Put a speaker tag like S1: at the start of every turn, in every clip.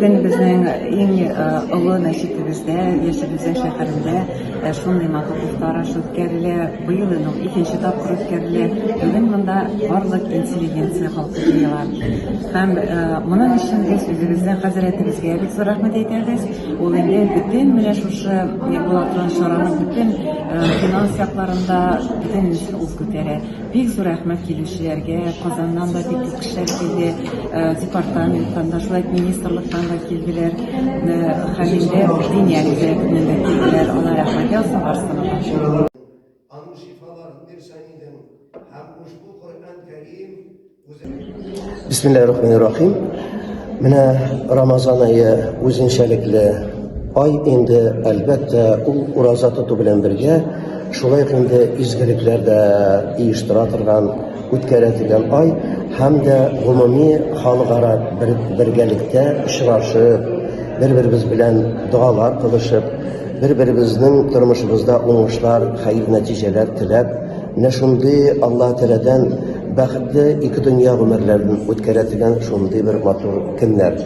S1: Син безнең иң олы мәчетебездә, яшибездә шәһәрендә шундый матур куштараш үткәрелә. Быел инде ул икенче тапкыр үткәрелә. Бүген монда барлык интеллигенция халкы җыела. Һәм моның өчен без үзебезнең хәзрәтебезгә бик зур рәхмәт әйтәбез. Ул инде бөтен менә шушы булаткан чараны бөтен финанс якларында бөтен ул күтәрә. Бик зур рәхмәт килүчеләргә, Казаннан да бик күп кешеләр килде, департаменттан да, шулай ук министрлыктан да килделәр, Хәлилдә Диния вәзыятеннән дә килделәр, алар рәхмәт язсын, барысына да ошады. Аның
S2: шифаларын бирсен идем һәм ушбу Коръән Кәрим Бисмиллахи рахманир рахим. Менә Рамазан айы үзенчәлекле ай инде, әлбәттә, ул ураза тоту белән бергә, шулай ук инде изгелекләр дә оештыра торган, үткәрә торган ай һәм дә гомуми халыкара бер, бергәлектә очрашып, бер-беребез белән догалар кылышып, Бер-беребезнең тормышыбызда уңышлар, хәер нәтиҗәләр теләп, менә шундый Алла Тәләдән бәхетле ике дөнья гомерләрен үткәрә дигән шундый бер матур көннәр.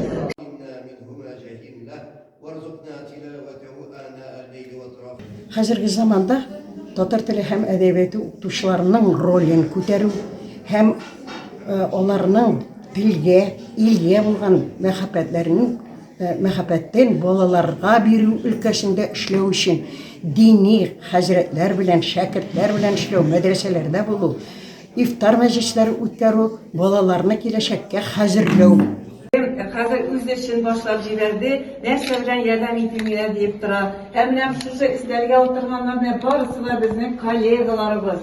S3: Хәзерге заманда татар теле һәм әдәбияте укытучыларының ролен күтәрү һәм аларның телгә, илгә булган мәхәббәтләрен мәхәббәтен балаларга бирү өлкәсендә эшләү өчен дини хәзрәтләр белән, шәкертләр белән эшләү, мәдрәсәләрдә булу, ифтар мәҗлесләре үткәрү, балаларны киләчәккә хәзерләү. Хәзер
S1: үз эшен башлап җибәрде, нәрсә белән ярдәм итимгә диеп тора. Ә менә шушы эзләргә утырганнар, менә барысы да безнең коллегаларыбыз.